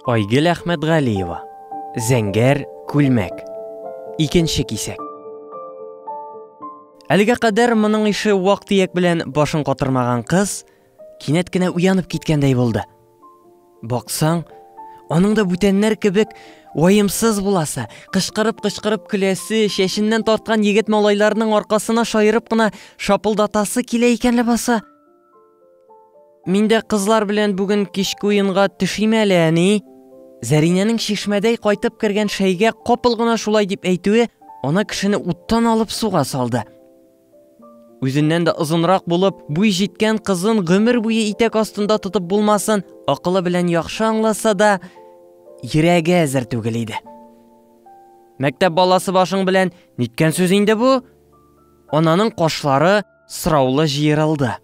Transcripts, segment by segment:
Айгел Әхмәтгалиева. Зәңгәр күлмәк. Икенче кисәк. Әлегә кадәр моның ише вак тияк белән башын катырмаган кыз кинәт кенә уянып киткәндәй булды. Баксаң, аның да бүтәннәр кебек уайымсыз буласы, кычкырып-кычкырып көләсе, чәченнән тарткан егет малайларның аркасына шаерып кына шапылдатасы килә икән ләбаса. Мин дә кызлар белән бүген кичке уенга төшим әле, әни. Зәринәнең чишмәдәй кайтып кергән шәйгә капыл гына шулай дип әйтүе ана кешене уттан алып суга салды. Үзеннән дә озынрак булып, буй җиткән кызын гомер буе итәк астында тотып булмасын, акылы белән яхшы аңласа да, йөрәге әзер түгел иде. Мәктәп баласы башың белән ниткән сүз инде бу? Ананың кашлары Сраулы җыерылды.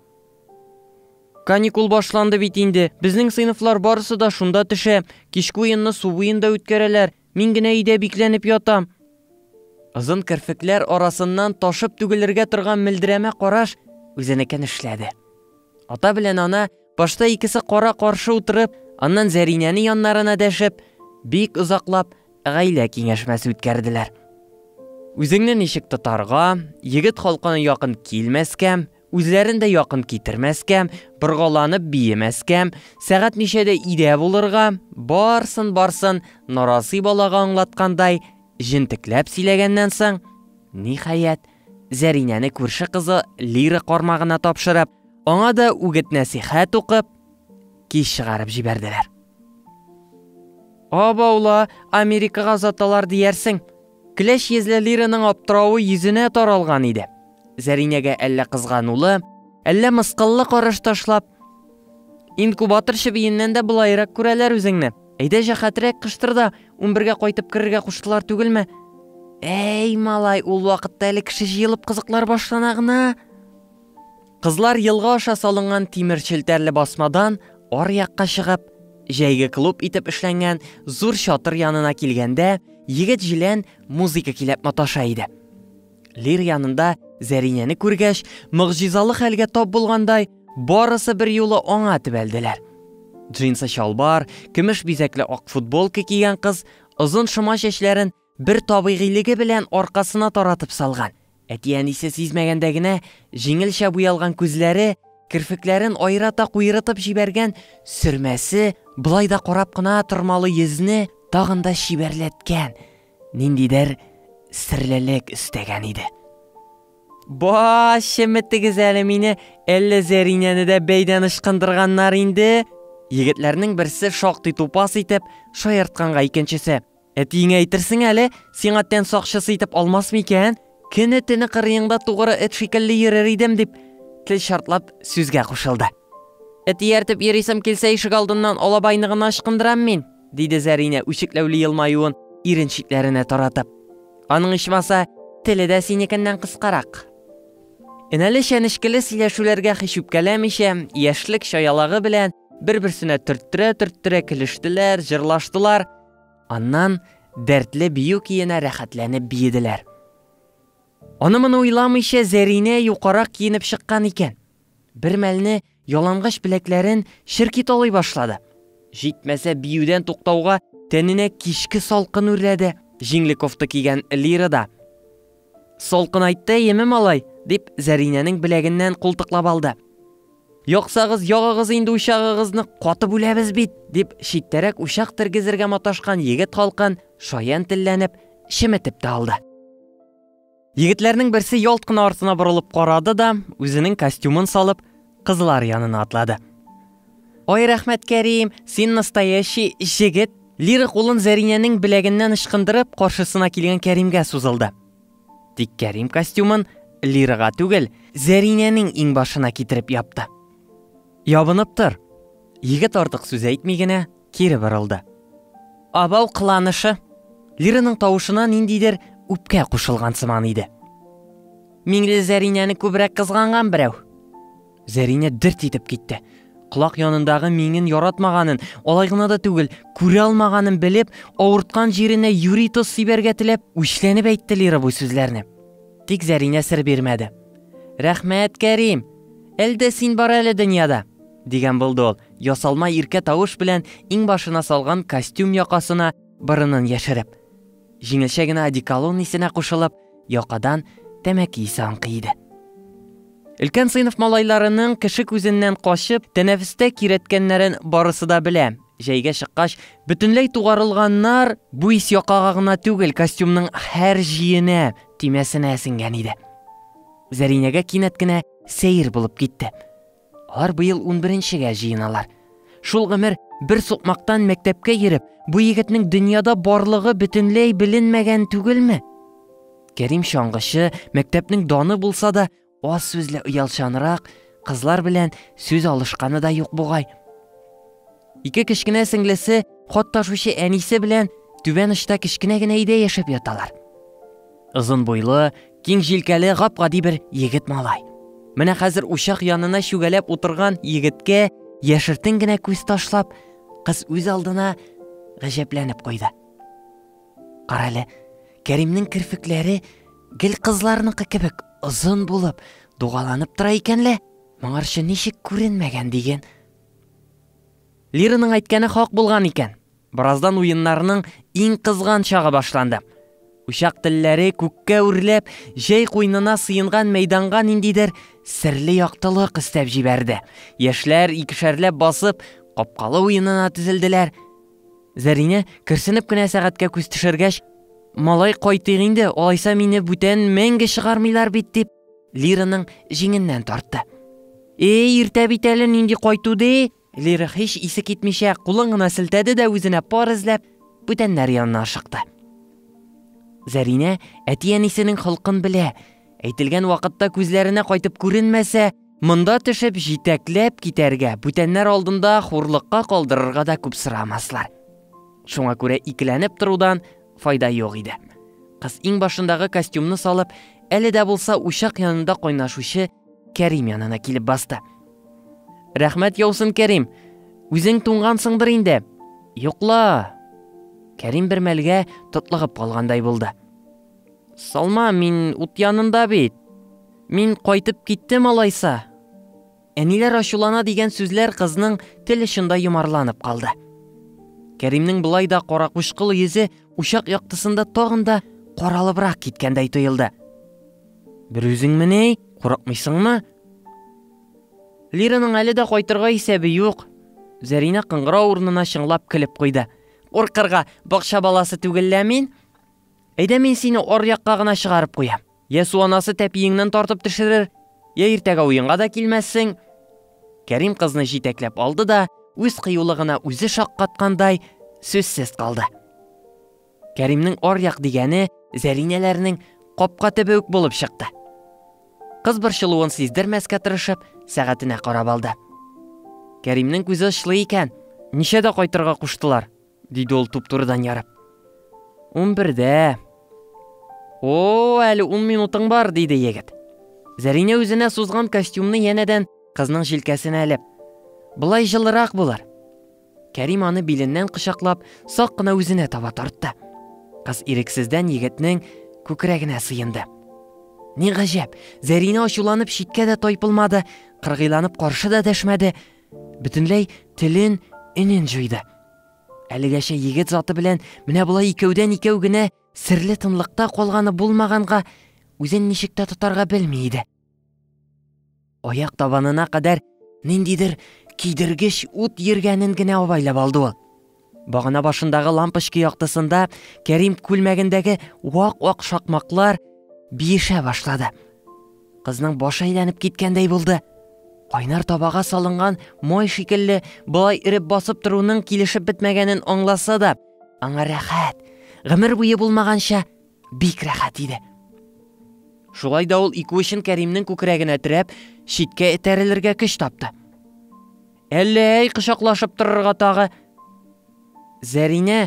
Каникул башланды бит инде. Безнең сыйныфлар барысы да шунда төшә. Кичке уенны су буенда үткәрәләр. Мин генә өйдә бикләнеп ятам. Озын керфекләр арасыннан ташып түгелергә торган мөлдерәмә караш үзенекен эшләде. Ата белән ана Башта икесе кара-каршы утырып, аннан Зәринәне яннарына дәшеп, бик озаклап гаилә киңәшмәсе үткәрделәр. Үзеңне ничек тотарга, егет халкына якын килмәскә, үзләрен дә якын китермәскә, боргаланып биемәскә, сәгать ничәдә өйдә булырга, барсын-барсын нарасый балага аңлаткандай, җентекләп сөйләгәннән соң, ниһаять, Зәринәне күрше кызы Лира кармагына тапшырып, аңа да үгет-нәсыйхәт укып, кич чыгарып җибәрделәр. Абаула, Америкага озаталар диярсең. Кләч йөзле Лираның аптыравы йөзенә таралган иде. Зәринәгә әллә кызганулы, әллә мыскыллы караш ташлап, Инкубатор чебиеннән дә болаерак күрәләр үзеңне. Әйдә, җәһатрәк кыштыр да, унбергә кайтып керергә куштылар түгелме? Әй, малай, ул вакытта әле кеше җыелып кызыклар башлана гына. Кызлар елга аша салынган тимер челтәрле басмадан ар якка чыгып, җәйге клуб итеп эшләнгән зур чатыр янына килгәндә, егет җилән музыка киләп маташа иде. Лир янында Зәринәне күргәч, могҗизалы хәлгә тап булгандай, барысы бер юлы аңа төбәлделәр. Джинсы чалбар, көмеш бизәкле ак футболка кигән кыз озын шома чәчләрен бер табигыйлеге белән аркасына таратып салган, әти-әнисе сизмәгәндә генә җиңелчә буялган күзләре, керфекләрен аерата куерытып җибәргән сөрмәсе болай да карап кына тормалы йөзне тагын да чибәрләткән, ниндидер серлелек өстәгән иде. Ба, чеметегез әле мине, әллә Зәринәне дә бәйдән ычкындырганнар инде? Егетләрнең берсе шактый тупас итеп шаяртканга икенчесе, Әтиеңә әйтерсең әле, сиңа тән сакчысы итеп алмасмы икән? Көне-төне кырыеңда тугры эт шикелле йөрер идем, дип, тел чартлап, сүзгә кушылды. Эт ияртеп йөрисем килсә, ишегалдыннан алабайны гына ычкындырам мин, диде Зәринә, үчекләүле елмаюын ирен читләренә таратып. Аның ичмаса, теле дә синекеннән кыскарак. Энәле чәнечкеле сөйләшүләргә һич үпкәләмичә, яшьлек чаялагы белән бер-берсенә төрттерә-төрттерә көлештеләр, җырлаштылар. Аннан дәртле бию киенә рәхәтләнеп биеделәр. Аны-моны уйламыйча Зәринә юкарак киенеп чыккан икән. Бер мәлне ялангач беләкләрен черки талый башлады. Җитмәсә биюдән туктауга тәненә кичке салкын үрләде. Җиңле кофта кигән Лира да, Салкынайтты әйеме, малай? дип, Зәринәнең беләгеннән култыклап алды. Яксагыз, ягыгыз инде учагыгызны, катып үләбез бит! дип, читтәрәк учак тергезергә маташкан егет халкын шаян телләнеп, чеметеп тә алды. Егетләрнең берсе ялт кына артына борылып карады да, үзенең костюмын салып, кызлар янына атлады. Ой, рәхмәт, Кәрим, син настоящий җегет! Лира кулын Зәринәнең беләгеннән ычкындырып, каршысына килгән Кәримгә сузылды. Тик Кәрим костюмын Лирага түгел, Зәринәнең иңбашына китереп япты. Ябынып тор! Егет артык сүз әйтми генә, кире борылды. Абау кыланышы! Лираның тавышына ниндидер үпкә кушылган сыман иде. Миңле Зәринәне күбрәк кызганган берәү. Зәринә дерт итеп китте. Колак янындагы миңен яратмаганын, алай гына да түгел, күрә алмаганын белеп, авырткан җиренә юри тоз сибәргә теләп, үчләнеп әйтте Лира бу сүзләрне. Тик Зәринә сер бирмәде. Рәхмәт, Кәрим! Әлдә син бар әле дөньяда! дигән булды ул. Ясалма иркә тавыш белән иңбашына салган костюм якасына борынын яшереп, җиңелчә генә одеколон исенә кушылып, якадан тәмәке исе аңкый иде. Өлкән сыйныф малайларының кеше күзеннән качып, тәнәфестә кирәткәннәрен барысы да белә. Җәйгә чыккач, бөтенләй тугарылганнар, бу ис якага гына түгел, костюмның һәр җиенә, төймәсенә сеңгән иде. Зәринәгә кинәт кенә сәер булып китте. Алар быел унберенчегә җыеналар. Шул гомер бер сукмактан мәктәпкә йөреп, бу егетнең дөньяда барлыгы бөтенләй беленмәгән түгелме? Кәрим чаңгычы, мәктәпнең даны булса да, аз сүзле оялчанрак, кызлар белән сүз алышканы да юк бугай. Ике кечкенә сеңлесе, хат ташучы әнисе белән түбән очта кечкенә генә өйдә яшәп яталар. Озын буйлы, киң җилкәле гап-гади бер егет малай. Менә хәзер учак янына чүгәләп утырган егеткә яшертен генә күз ташлап, кыз үз алдына гаҗәпләнеп куйды. Карале, Кәримнең керфекләре гел кызларныкы кебек озын булып, дугаланып тора икән лә, моңарчы ничек күренмәгән диген. Лираның әйткәне хак булган икән. Бераздан уеннарның иң кызган чагы башланды. Учак телләре күккә үрләп, җәй куйнына сыенган мәйданга ниндидер серле яктылык өстәп җибәрде. Яшьләр икешәрләп басып, капкалы уенына тезелделәр. Зәринә, керсенеп кенә сәгатькә күз төшергәч, Малай кайтыйк инде, алайса мине бүтән мәңге чыгармыйлар бит, дип, Лираның җиңеннән тартты. Эй, иртә бит әле нинди кайту ди? Лира һич исе китмичә кулын гына селтәде дә үзенә пар эзләп, бүтәннәр янына ашыкты. Зәринә әти-әнисенең холкын белә. Әйтелгән вакытта күзләренә кайтып күренмәсә, монда төшеп җитәкләп китәргә, бүтәннәр алдында хурлыкка калдырырга да күп сорамаслар. Шуңа күрә икеләнеп торудан файда юк иде. Кыз иң башындагы костюмны салып, әле дә булса учак янында кайнашучы Кәрим янына килеп басты. Рәхмәт яусын, Кәрим. Үзең туңгансыңдыр инде. Йокла. Кәрим бер мәлгә тотлыгып калгандай булды. Салма, мин ут янында бит. Мин кайтып киттем алайса. Әниләр ачулана дигән сүзләр кызның тел очында йомарланып калды. Кәримнең былай да каракучкыл йөзе учак яктысында тагын да каралыбрак киткәндәй тоелды. Бер үзеңмени? Курыкмыйсыңмы? Лираның әле дә кайтырга исәбе юк. Зәринә кыңгыра урынына чыңлап көлеп куйды. Куркырга, бакча баласы түгел лә мин. Әйдә мин сине аръякка гына чыгарып куям. Я су анасы тәпиеңнән тартып төшерер, я иртәгә уенга да килмәссең. Кәрим кызны җитәкләп алды да, үз кыюлыгына үзе шаккаткандай, сүзсез калды. Кәримнең аръяк дигәне Зәринәләрнең капка төбе үк булып чыкты. Кыз борчылуын сиздермәскә тырышып, сәгатенә карап алды. Кәримнең күзе очлы икән, ничәдә кайтырга куштылар? диде ул туп-турыдан ярып. Унбердә. О, әле ун минутың бар, диде егет. Зәринә үзенә сузган костюмны янәдән кызның җилкәсенә элеп. Былай җылырак булыр. Кәрим аны биленнән кочаклап, сак кына үзенә таба тартты. Кыз ирексездән егетнең күкрәгенә сыенды. Ни гаҗәп, Зәринә ачуланып читкә дә тайпылмады, кыргыйланып каршы да дәшмәде. Бөтенләй телен, энен җуйды. Әлегәчә егет заты белән менә болай икәүдән икәү генә серле тынлыкта калганы булмаганга, үзен ничек тә тотарга белми иде. Аяк табанына кадәр ниндидер кидергеч ут йөргәнен генә абайлап алды ул. Багана башындагы лампочка яктысында Кәрим күлмәгендәге вак-вак шакмаклар биешә башлады. Кызның башы әйләнеп киткәндәй булды. Кайнар табага салынган май шикелле болай иреп басып торуның килешеп бетмәгәнен аңласа да, аңа рәхәт, гомер буе булмаганча бик рәхәт иде. Шулай да ул ике учын Кәримнең күкрәгенә терәп, читкә этәрелергә көч тапты. Әллә әй кочаклашып торырга тагы. Зәринә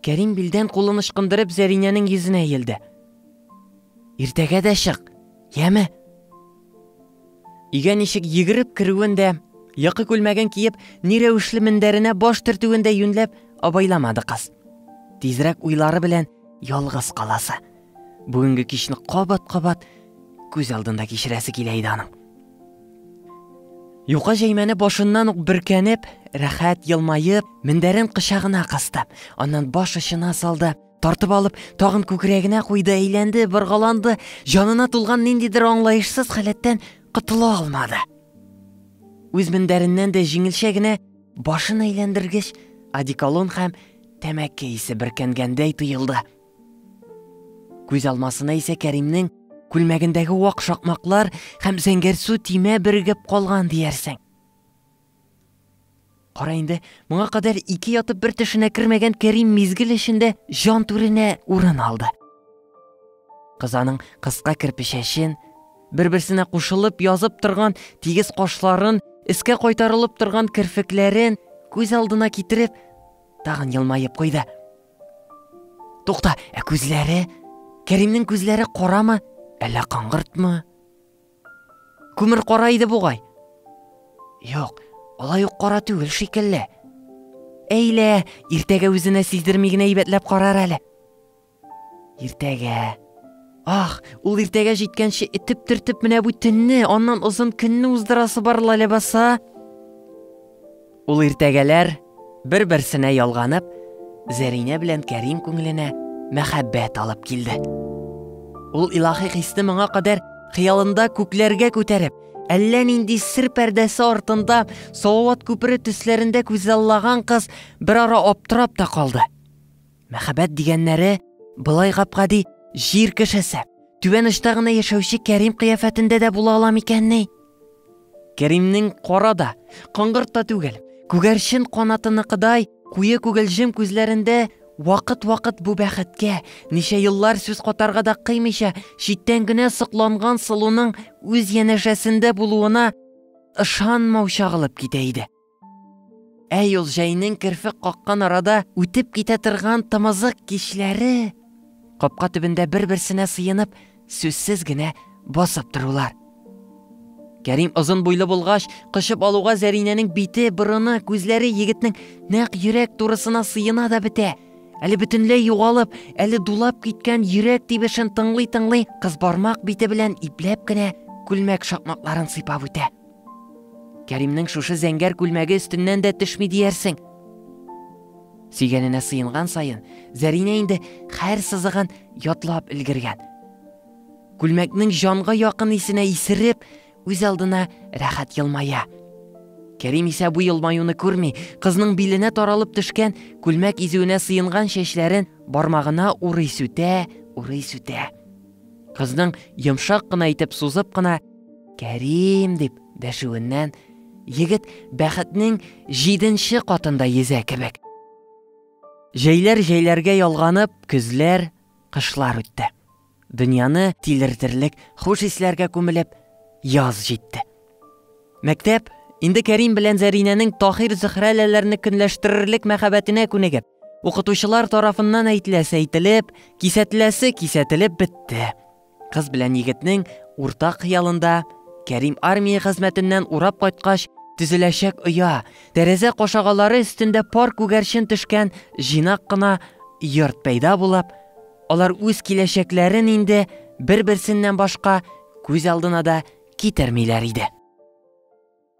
Кәрим билдән кулын ычкындырып Зәринәнең йөзенә иелде. Иртәгә дә чык, яме? Өйгә ничек йөгереп керүен дә, якы күлмәген киеп, ни рәвешле мендәренә баш төртүен дә юньләп абайламады кыз. Тизрәк уйлары белән ялгыз каласы. Бүгенге кичне кабат-кабат күз алдында кичерәсе килә иде аның. Юка җәймәне башыннан ук бөркәнеп, рәхәт елмаеп, мендәрен кычагына кысты. Аннан баш очына салды, Тартып алып, тагын күкрәгенә куйды, әйләнде, боргаланды, җанына тулган ниндидер аңлаешсыз халәттән котыла алмады. Үз мендәреннән дә җиңелчә генә башын әйләндергеч, одеколон һәм тәмәке исе беркәнгәндәй тоелды. Күз алмасына исә Кәримнең күлмәгендәге вак шакмаклар һәм зәңгәрсу тимә бергеп калган диярсең. Кара инде, моңа кадәр ике ятып бер тешенә кермәгән Кәрим мизгел эчендә җан түренә урын алды. Кыз аның кыска керпечәчен, бер-берсенә кушылып язып торган тигез кашларын, искә кайтарылып торган керфекләрен күз алдына китереп, тагын елмаеп куйды. Тукта, ә күзләре? Кәримнең күзләре карамы, әллә каңгыртмы? Күмер кара иде бугай. Юк, алай ук кара түгел шикелле. Әйлә, иртәгә үзенә сиздерми генә әйбәтләп карар әле. Иртәгә. Ах, ул иртәгә җиткәнче итеп төртеп менә бу төнне, аннан озын көнне уздырасы бар ләбаса. Ул иртәгәләр, бер-берсенә ялганып, Зәринә белән Кәрим күңеленә мәхәббәт алып килде. Ул илаһи хисне моңа кадәр хыялында күкләргә күтәреп, әллә нинди сер пәрдәсе артында Салават күпере төсләрендә күзаллаган кыз бер ара аптырап та калды. Мәхәббәт дигәннәре былай гап-гади җир кешесе, түбән очта гына яшәүче Кәрим кыяфәтендә дә була ала микәнни? Кәримнең кара да, коңгырт та түгел, күгәрчен канатыныкыдай куе күгелҗем күзләрендә вакыт-вакыт бу бәхеткә, ничә еллар сүз катарга да кыймыйча, читтән генә сокланган сылуның үз янәшәсендә булуына ышанмау чагылып китә иде. Ә юл җәйнең керфек каккан арада үтеп китә торган тымызык кичләре, капка төбендә бер-берсенә сыенып, сүзсез генә басып торулар. Кәрим озын буйлы булгач, кочып алуга Зәринәнең бите, борыны, күзләре егетнең нәкъ йөрәк турысына сыена да бетә. Әле бөтенләй югалып, әле дулап киткән йөрәк тибешен тыңлый-тыңлый, кыз бармак бите белән ипләп кенә күлмәк шакмакларын сыйпап үтә. Кәримнең шушы зәңгәр күлмәге өстеннән дә төшми диярсең. Сөйгәненә сыенган саен, Зәринә инде хәр сызыгын ятлап өлгергән. Күлмәкнең җанга якын исенә исереп, үз алдына рәхәт елмая. Кәрим исә бу елмаюны күрми, кызның биленә таралып төшкән күлмәк изүенә сыенган чәчләрен бармагына урый сүтә, урый сүтә. Кызның йомшак кына итеп сузып кына Кәрим дип дәшүеннән егет бәхетнең җиденче катында йөзә кебек. Җәйләр җәйләргә ялганып, көзләр, кышлар үтте. Дөньяны тилертерлек хуш исләргә күмелеп, яз җитте. Мәктәп, инде Кәрим белән Зәринәнең Таһир-Зөһрәләләрне көнләштерерлек мәхәббәтенә күнегеп, укытучылар тарафыннан әйтеләсе әйтелеп, кисәтеләсе кисәтелеп бетте. Кыз белән егетнең уртак хыялында Кәрим армия хезмәтеннән урап кайткач төзеләчәк оя, тәрәзә кашагалары өстендә пар күгәрчен төшкән җыйнак кына йорт пәйда булып, Алар үз киләчәкләрен инде бер-берсеннән башка күз алдына да китермиләр иде.